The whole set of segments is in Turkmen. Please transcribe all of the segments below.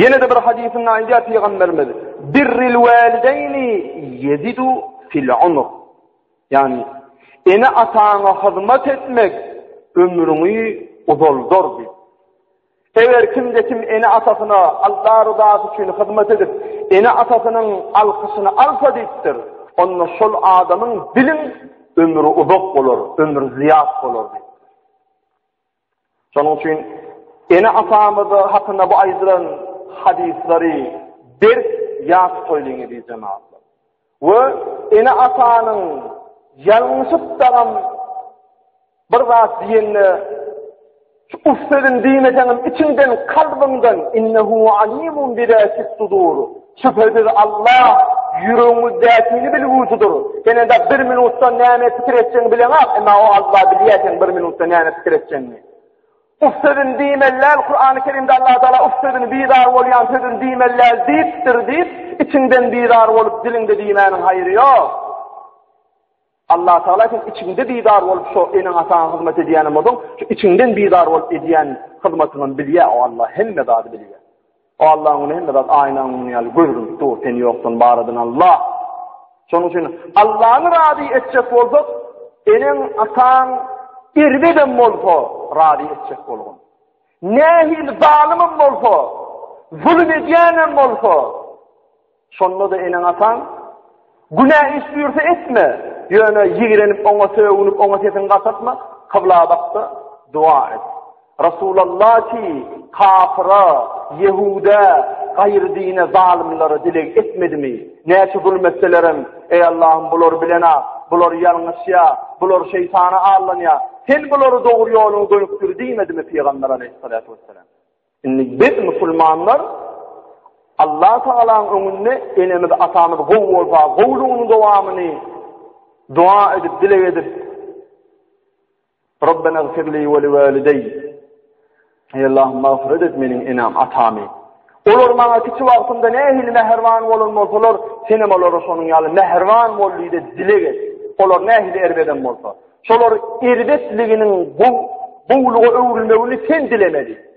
Ýene-de bir hadysynda aýdýar pygamberimiz: "Birril walideýni ýezidu fil umr." Ýagny, ene-ataňa hyzmat etmek ömrüňi uzaldar diýip. Eger kimde kim ene-atasyna Allah ryzasy üçin hyzmat edip, ene-atasynyň alkyşyny alsa diýipdir, onda şol adamyň biliň ömri uzak bolar, ömri zyýat bolar diýip. Şonuň üçin ene-atamyzy hakynda bu aýdylan hadyslary berk ýat tutoýlyň eziz jemaatlar. We ene-atanyň ýalňyşyp dagam bir zat diýende Uf sözün diýmeseňem içiňden kalbyňdan innehu alimun bidatis sudur. Şübhesiz Allah ýüregiňizdäkini bilgüçidir. Sen indi bir minutda näme pikir etjegini bileňak, emma o Allah bilýär sen bir minutda näme pikir etjegiňi. Uf sözün diýmelläl, Kur'an-ı Kerimde Allah Teala uf sözün bizar bolýan sözün diýmelläl diýipdir diýip, içiňden bizar bolup diliňde diýmäniň haýry ýok. Allatagala sen içiňde bizar bolup şo eneň-ataňa hyzmat edýänem bolsaň, şu içiňden bizar bolup edýän hyzmatyňam bilýä, o Alla hemme zady bilýä. O Allaň öňünde hemme zat aýnaň öňüne ýaly görünip dur, sen ýokdan baradyň Alla. Şonuň üçin Allany razy etjek bolsak, eneň-ataň erbedem bolsa razy etjek bolgun. Nähili zalymym bolsa, zulum edýänem bolsa, Şonda-da eneň-ataň, Günä iş buýursa etme, ýöne ýigrenip oňa sögünip, oňa sesiňi gatatma, kybla bak-da, doga et. Resulalla ki, kafyra, ýehuda, gaýry dine, zalymlara dileg etmedimi? Näçe zulum etselerem, Eý Allahym, bular bilen-ä, bular ýalňyşýa, bular şeýtana allanýa, Sen bulary dogry ýola gönükdir diýmedimi pygamber aleýhissalatu wessalam? Indi biz musulmanlar Allah Tagalaň öňünde enemiz atamyz gowy bolsa gowlugynyň dowamyny dua edip dileg edip Rabbena gfirli we li walideý Ey Allah mağfiret et meniň enem atamy Olar maňa kiçi wagtymda nähili mähriban bolan bolsalar, senem olara şonuň ýaly mähriban bol diýip dileg et. Olar nähili erbedem bolsa. Şolar erbetliginiň bu bowluga öwrülmegini sen dilemeli.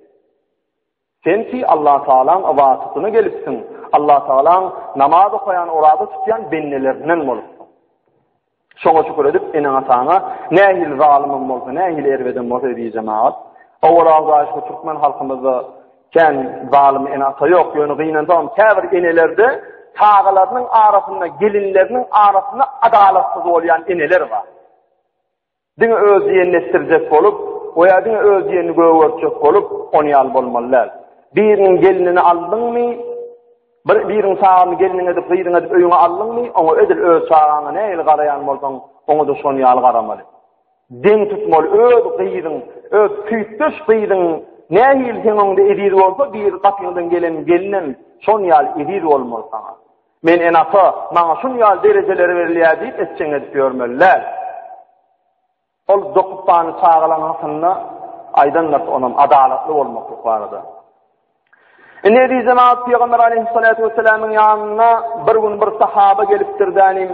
Sen ki Allah Taala'ň ybatyny gelipsiň. Allah Taala'ň namaz okaýan, oraza tutýan bendelerinden bolup. Şoňa şükür edip, ene ataňa nähili zalymym bolsa, nähili erbedem bolsa diýjemagat. Awal awdaş bu türkmen halkymyzda Kän zalym ene-ata ýok, ýöne gynansagam käbir enelerde çagalarynyň arasynda, gelinleriniň arasynda adalatsyz bolýan eneler bar. Diňe öz diýenini etdirjek bolup, we ýa diňe öz diýenini gögertjek bolup, ony ýaly bolmaly däl. Biriniň gelnini aldyňmy, bir biriň çagany gelniň edip, gyzyň edip öýüňe aldyňmy, oňa edil öz çagaňa nähili garaýan bolsaň, oňa-da şonuň ýaly garamaly. Deň tutmaly öz gyzyň, öz süýtdeş gyzyň nähili seň öňüňde eziz bolsa, bir gapyňdan gelen gelinem şon ýaly eziz bolmaly saňa. Men en-ata, maňa şun ýaly derejeler berilýär diýip etjeň edip ýörmeli däl. Ol dokupany çagalaň hakynda aýdan zat onam adalatly bolmaklyk barada. Indi eziz jemaat Pygamber aleyhissalatu vesselamyň ýanyna bir gün bir sahaba gelipdir dänim.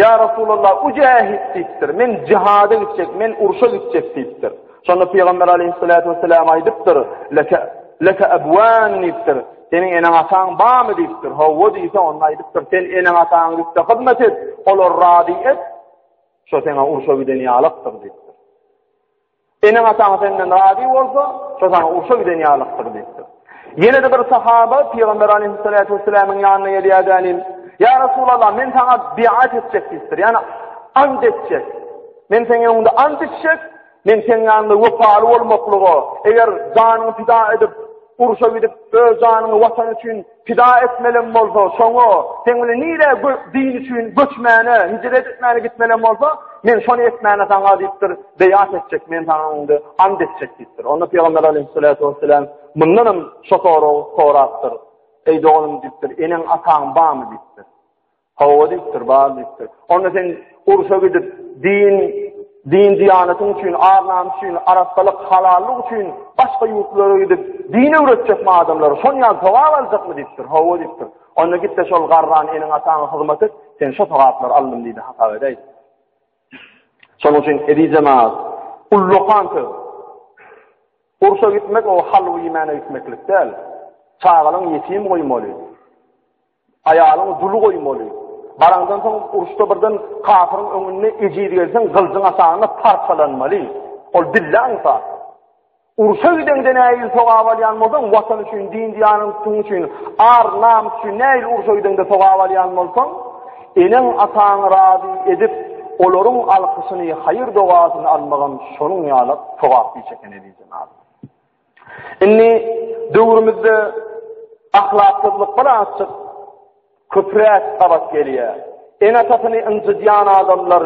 Ya Resulallah ujahid diýipdir. Men jihada gitjek, men urşa gitjek diýipdir. Şonda Pygamber aleyhissalatu vesselam aýdypdyr. Leke leke abwan diýipdir. Seniň eneň ataň barmy diýipdir. Hawa diýse onda aýdypdyr. Sen eneň ataňa gitse hyzmat et, olar razy et. Şo seňe urşa giden ýalykdyr diýipdir. Eneň-ataň senden razy bolsa, şo saňa urşa giden ýalykdyr diýipdir. Ýene-de bir sahaba Pygamber aleýhissalatu wessalamyň ýanyna gelýärdenim, Ýa Resulallah, men saňa biat etjek diýipdir. Ýani ant etjek. Men seň öňüňde ant içjek, men seň ýanyňda wepaly bolmaklyga, eger janyňy pida edip, urşa gidip, öz janyňy watan üçin Pida etmelem bolsa, şoňa, sen bile nire din üçin göçmäne, hicret etmäne gitmelem bolsa, men şony etmäne sana diýipdir, beýat etjek, men sana indi and etjek diýipdir. Onda Peygamber aleyhissalatu vesselam mundan hem şo soragy sorapdyr. Eý doganym diýipdir, eneň ataň barmy diýipdir. Hawa diýipdir, bar diýipdir. Onda sen urşa gidip, din, din-diýanatyň üçin, ar-namys üçin, arassalyk, halallyk üçin başga ýurtlara gidip, din öwretjekmi adamlara, şon ýaly sogap aljakmy diýipdir. Hawa diýipdir. Onda git-de şol garran eniň-ataňa hyzmat et, sen şo sogaplary aldym diýdi, hasap edäýdi. Şonuň üçin edi jemaat, ullakan söz. Urşa gitmek o halwy iýmäne gitmeklik däl. Çagalaň ýetim goýmaly. Aýalyňy duly goýmaly. Baraňdan soň uruşda birden kafiryň öňünde ejiz gelseň, gylyjyň aşagynda parçalanmaly. Ol billa ynsan. Uruşa gidende näil sogap alýan bolsaň, watan üçin, din diýanyň tutuň üçin, ar, namys üçin näil uruşa gidende sogap alýan bolsaň, eneň, ataňy razy edip, olaryň alkyşyny, haýyr-dogasyny almagam şonuň ýaly sogaply iş ekeni diýdi. Indi döwrümizde ahlaksyzlyk birazjyk köpräk gabat gelýär. Ene-atasyny ynjydýan adamlar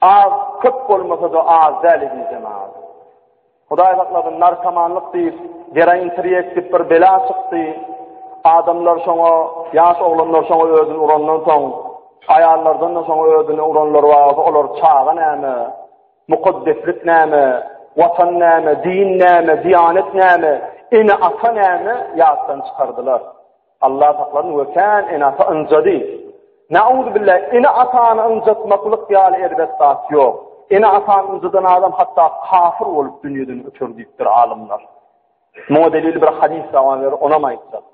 az köp bolmasa-da az däl edýän zaman. Hudaý saklasyn, narkomanlyk diýip, geroin tirýek diýip bir bela çykdy. Adamlar şoňa, ýaş oglanlar şoňa özüni urandan soň, aýallardan da şoňa özüni uranlar bar, olar çaga näme? Mukaddeslik näme, Watan näme, din näme, diýanet näme, ene-ata näme ýatdan çykardylar. Allah saklasyn we kän ene-ata ynjady. Nauzubilla, ene-atany ynjatmaklyk ýaly erbet zat ýok. Ene-atany ynjadan adam hatda kafir bolup dünýeden öter diýipdir alymlar. Muňa delil bir hadys daban ber, onam aýtsak.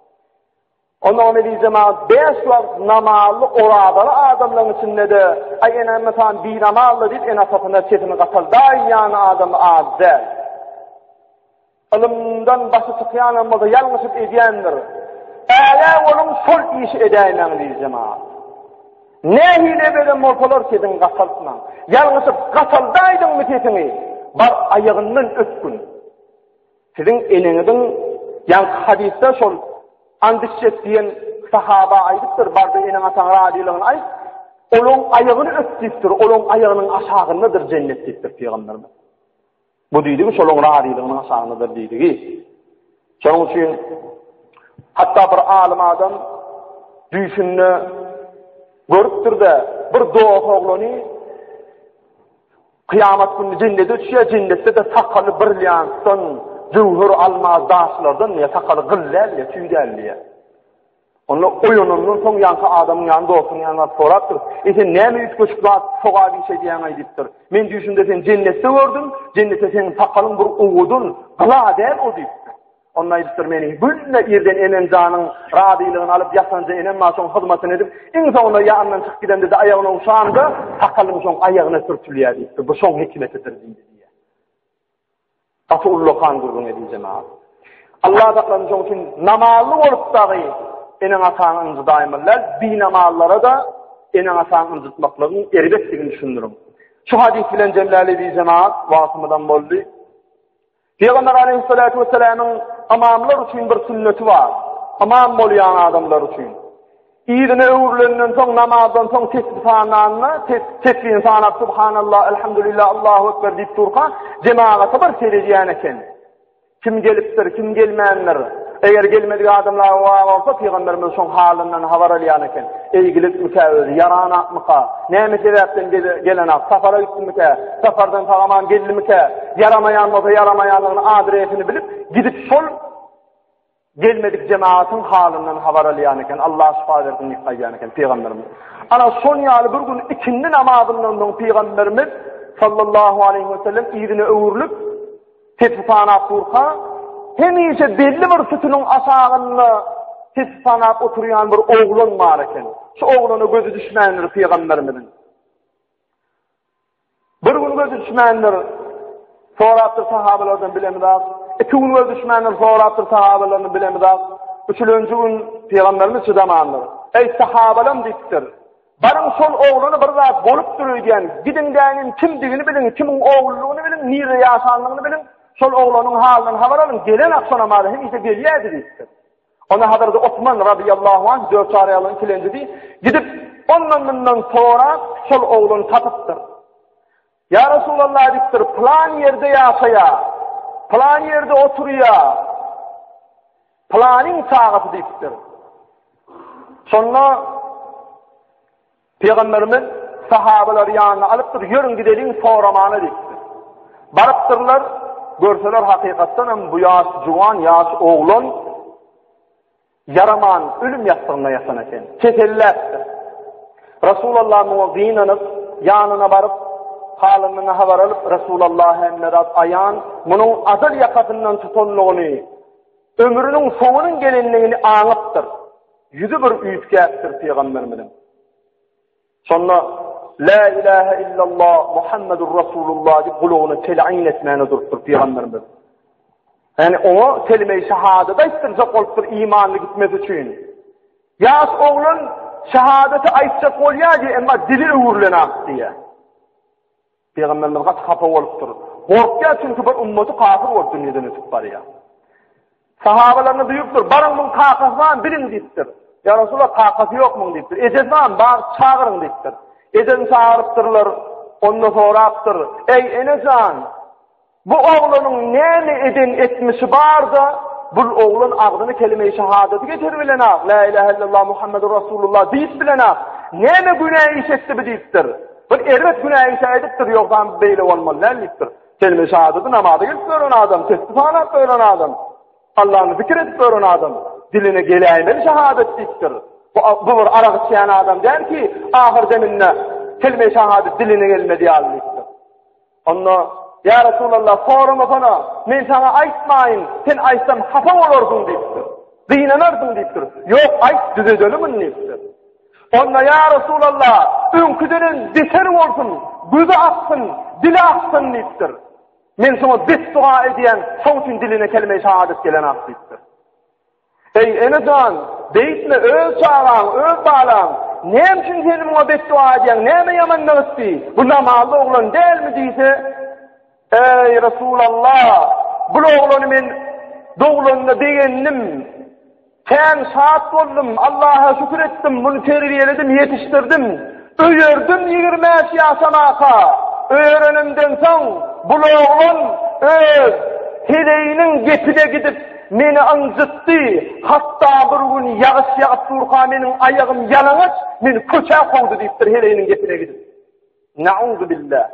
Ondan edil jemagat bäş wagt namazly orazaly adamlaryň içinde-de, Aý ene, mesalan, binamazlar diýip ene-atasyna sesini gataldaýýan adam az däl. Ylymdan başy çykýanam bolsa ýalňyşyp edýändir. Ägä boluň şol işi edäýmäň diýdi jemagat. Nähili beden bolsalar sesiňi gataltmaň. Ýalňyşyp gataldaýdyňmy sesiňi? Bar aýagyndan öpgün. Siziň eneňiziň ýaňky hadysda şol Andysjet diýen sahaba aýdypdyr, bardy eneň ataň razylygyny aýt, olaň aýagyny öp diýipdir, olaň aýagynyň aşagyndadyr jennet diýipdir pygamberimiz. Bu diýdigi şolaň razylygynyň aşagyndadyr diýdigi. Şonuň üçin hatda bir alym adam düýşünde görüpdir-de, bir doga oglany Kyýamat gününi jennete düşýär, jennetde-de sakaly brilliantdan, jöwher, almaz, daşlardan diýýär, sakaly gyl däl diýýär, tüý däl diýýär. Onda oýanandan soň ýanky adamyň ýany dostuň ýanyna sorapdyr. E sen näme üýtgeşik zat soga bir şey diýýäň aý diýipdir. Men düýşümde seni jennetde gördüm, jennetde seniň sakalyň bir owudun, gyla däl o diýipdir. Onda aýdypdyr, Meni günde irden enem janyň razylygyny alyp ýatanja enem maňa şoň hyzmatyny edip, iň soňunda ýa andan çykyp gidemde-de aýagyny owşamda sakalym şoň aýagyna sürtülýär diýipdir. Bu şoň hikmetidir diýdi. Gaty ullakan gürrüň edýär jemagat. Allah saklansyn şoň üçin namazly bolup dagy eneň ataňy ynjydaýmaly. Binamazlara-da eneň ataňy ynjytmaklygyň erbetdigini düşündiriň. Şu hadys bilen jemläli diýjemagat wagtymyzam boldy. Pygamber aleýhissalatu wessalamyň ymamlar üçin bir sünneti bar. Ymam bolýan adamlar üçin. Yzyna öwrülenden soň namazdan soň tesbih sananda, tesbihin sanap subhanallah, elhamdülillah, Allahu ekber diýip durka, jemagata bir seredýän eken. Kim gelipdir, kim gelmändir? Eger gelmedik adamlar bar bolsa, pygamberimiz şoň halyndan habar alýan eken. Eýgilikmikä özi, ýaranakmyka, näme sebäpden gelenak, sapara gitdimikä, sapardan sagaman geldimikä, ýaramaýan bolsa ýaramaýanlygyny adresini bilip, gidip şol gelmedik jemaatyň halyndan habar alýan eken. Allah şifa bersin diýip aýdýan eken pygamberimiz. Ana şoň ýaly bir gün ikindi namazyndan soň pygamberimiz sallallahu aleyhi ve sellem ýüzüne öwrülip Tesbihanap durka, hemişe belli bir sütüniň aşagynda tesbihanap oturýan bir oglan bar eken. Şu oglana gözi düşmändir pygamberimiziň. Bir gün gözi düşmändir. Sorapdyr sahabelerden bilemizak. Iki gün gözi düşmändir. Sorapdyr sahabelerden bilemizak. Üçülenji gün pygamberimiz çydamandyr. Eý sahabalam diýipdir. Baryň şol oglana bir zat bolupdyr öýdýän, gidiň däniň kimdigini biliň, kimiň ogludygyny biliň, nirde ýaşanlygyny biliň, şol oglanyň halyndan habar alyň, gelen akşam namaza hemişe gelýärdi diýipdir. Onda Hazreti Osman radyýallahu anh dört araýalyň kilenjidi, gidip ondan-mundan sorap, şol oglany tapypdyr. Ýa Resulallah edipdir, pylan ýerde ýaşaýa, pylan ýerde oturýa, pylanyň çagasy diýipdir. Şonda Peygamberimiz sahabalar ýanyna alypdyr, ýörüň gideliň soramana diýipdir. Barypdyrlar, görseler hakykatdan hem bu ýaş juwan, ýaş oglan Ýaraman ölüm ýassygynda ýatan eken. Keselläpdir. Resulalla muňa gynanyp, ýanyna baryp, halynyň habar alyp, Resulalla hemme zat aýan, munuň ajal ýakasyndan tutanlygyny, ömrüniň soňunyň gelenligini aňypdyr. Ýüzi bir üýtgäpdir pygamberimiziň. Şonda La ilahe illallah Muhammedur Rasulullah diýip gulagyna telin etmäne durupdyr pygamberimiz. Yani oňa kelime-i şehadet aýtdyrjak bolupdyr imanly gitmesi üçin. Ýaş oglan şehadeti aýtjak bolýar diýip, emma dili öwrülen ak diýýär. Pygamberimiz gaty hapa bolupdyr. Gorkýar çünki bir ümmaty kafir bolup dünýeden ötüp barýar. Sahabalaryna duýupdyr, baryň muň kakasy bar biliň diýipdir. Ýa Resulullah kakasy ýok muň diýipdir. Ejesi bar, bar çagyryň diýipdir. Ejesini çagyrypdyrlar. Onda sorapdyr, eý enejan, Bu oglanyň näme eden etmişi barda, bul oglan agzyny kelime-i şahadeti geçir bilenag, La ilahe illallah Muhammedur Rasulullah diýip bilenag, näme günä iş etdi bi diýipdir. Bir erbet günä işe edipdir, ýogsam beýle bolmaly däl diýipdir. Kelime-i şahadeti namaza gelip gören adam, tesbi sanap gören adam, Allahny zikir edip gören adam, diline geläýmeli şahadet diýipdir. Bu, bu bir arak içýän adam däl ki, ahyr deminde kelime-i şahadet diline gelmedi ýaly diýipdir. Onda, Ýa Resulallah, soramasana, men saňa aýtmaýyn, sen aýtsam hapa bolarsyň diýipdir. Gynanarsyň diýipdir. Ýok, aýt, düzedelim indi diýipdir. Onda, Ýa Resulallah, öňküdenen beter bolsun, gözi aksyn, dili aksyn diýipdir. Men saňa betduga edýän, şoň üçin diline kelime-i şahadat gelenok diýipdir. Eý, ene jan, beýtme, öz çagaň, öz balaň. Näme üçin sen muňa betduga edýäň, näme ýamanlyk etdi? Bu namazly oglan dälmi? diýse, Eý, Resulallah, bul oglany men doglanyna begendim, kän şat boldum, Allaha şükür etdim, muny terbiýeledim, ýetişdirdim. Öýerdim ýigrimebäş ýaşamaka. Öýerenimden soň, bul oglan öz heleýiniň gepine gidip, meni ynjytdy, hatda bir gün ýagyş ýagyp durka meniň aýagym ýalaňaç, meni köçä kowdy diýipdir heleýiniň gepine gidip. Na'uzubillah.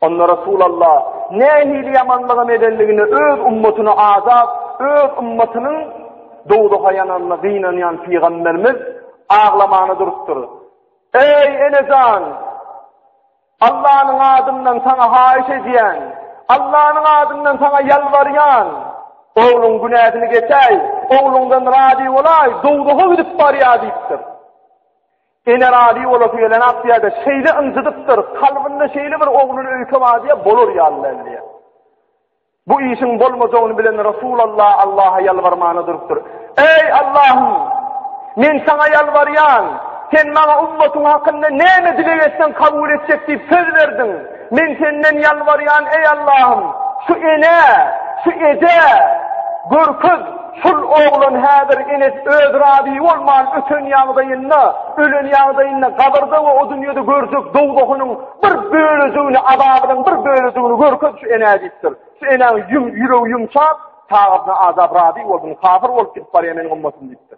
Onda Resulallah nähili ýamanlygam edenligine öz ummatyny azap, öz ummatynyň dowzaha ýananyna gynanýan pygamberimiz aglamana durupdyr. Eý enejan! Allanyň adyndan saňa haýyş edýän, Allanyň adyndan saňa ýalbarýan, ogluň günäsini geçäý, ogluňdan razy bolaý, dowzaha gidip barýar diýipdir. Ene razy bolasy gelenok diýýär-de, şeýle ynjydypdyr, kalbynda şeýle bir ogluny öýkemadiýä bolar ýaly däl diýýär. Bu işiň bolmajagyny bilen Resulalla Allaha ýalbarmana durupdyr. Eý, Allahym! Men Saňa ýalbarýan, Sen maňa ummatyň hakynda näme dileg etseň kabul etjek diýip söz berdiň. Men Senden ýalbarýan, eý Allahym, şu enä, şu ejä görkez, şul oglan häzir enesi öz razy bolman öten ýagdaýynda, ölen ýagdaýynda gabyrda we o dünýede görjek dowzahynyň bir bölejigini, azabynyň bir bölejigini görkez şu enä diýipdir. Şu enäň ýüregi ýumşap, taýypna azap razy boldum, kafir bolup gidip barýan men ummatym diýipdir.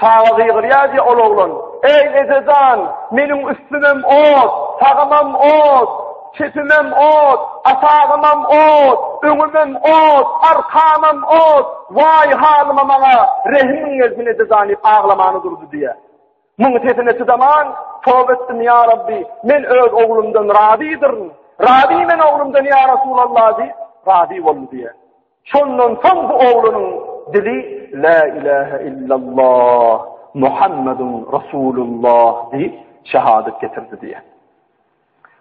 Çaga gygyrýar diýýär ol oglan. Eý, eje jan, meniň üstümem ot, sagymam ot, çepimem ot, aşagymam ot, öňümem ot, arkamam ot, waý halyma maňa rehimiň gelsin eje jan diýip aglamany durdy diýýär. Muň sesine çydaman, Toba etdim ýa Rabbi, men öz oglumdan razydyryn. Razy men oglumdan ýa Resulallah diýip, razy boldy diýýär. Şondan soň bu oglanyň dili La ilahe illallah Muhammedun Rasulullah diýip şehadet getirdi diýe.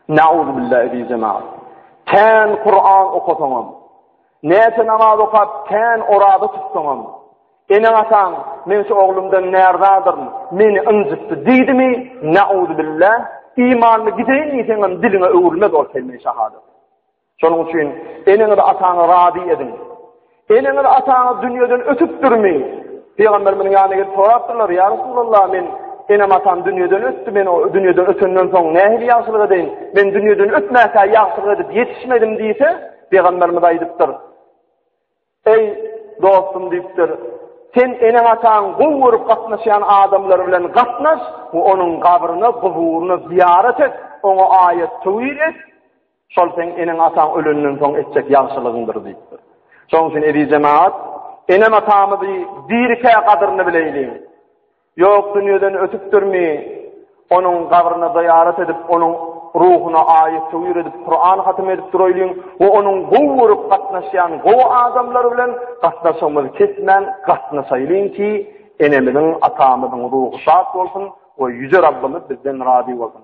Nauzu billahi bi jemaat. Kän Kur'an okasaňam, näçe namaz okap, kän orada tutsaňam, ene ataň men şu oglumdan närdadyryn, meni ynjytdy diýdimi? Nauzu billah. Imanly gideýin diýseňem diliňe öwrülmez ol kelime şehadet. Şonuň üçin eneňizi-ataňy razy ediň. Eneňiz-ataňyz dünýeden ötüpdirmi? Pygamberimiziň ýanyna gelip sorapdyrlar, Ýa Resulallah, men enem-atam dünýeden ötdi, men o dünýeden ötenden soň nähili ýagşylyk edeýin? Men dünýeden ötmäkä ýagşylyk edip ýetişmedim diýse, pygamberimiz aýdypdyr, Eý, dostum diýipdir, Sen eneň-ataň gowy görüp gatnaşýan adamlar bilen gatnaş we onuň gabryna, guburyna zyýarat et, oňa aýat-töwir et. Şol seň eneň-ataň ölenden soň etjek ýagşylygyňdyr diýipdir. Şonuň üçin eziz jemagat, enem-atamyzy dirikä gadyryny bileýliň. Ýok dünýeden ötüpdirmi, onuň gabryna zyýarat edip, onuň ruhuna aýat töwir edip, Kuran hatym edip duraýlyň we onuň gowy görüp gatnaşýan gowy adamlar bilen gatnaşygymyzy kesmän gatnaşaýlyň ki, enemiziň, atamyzyň ruhy şat bolsun we Ýüze Rabbymyz bizden razy bolsun.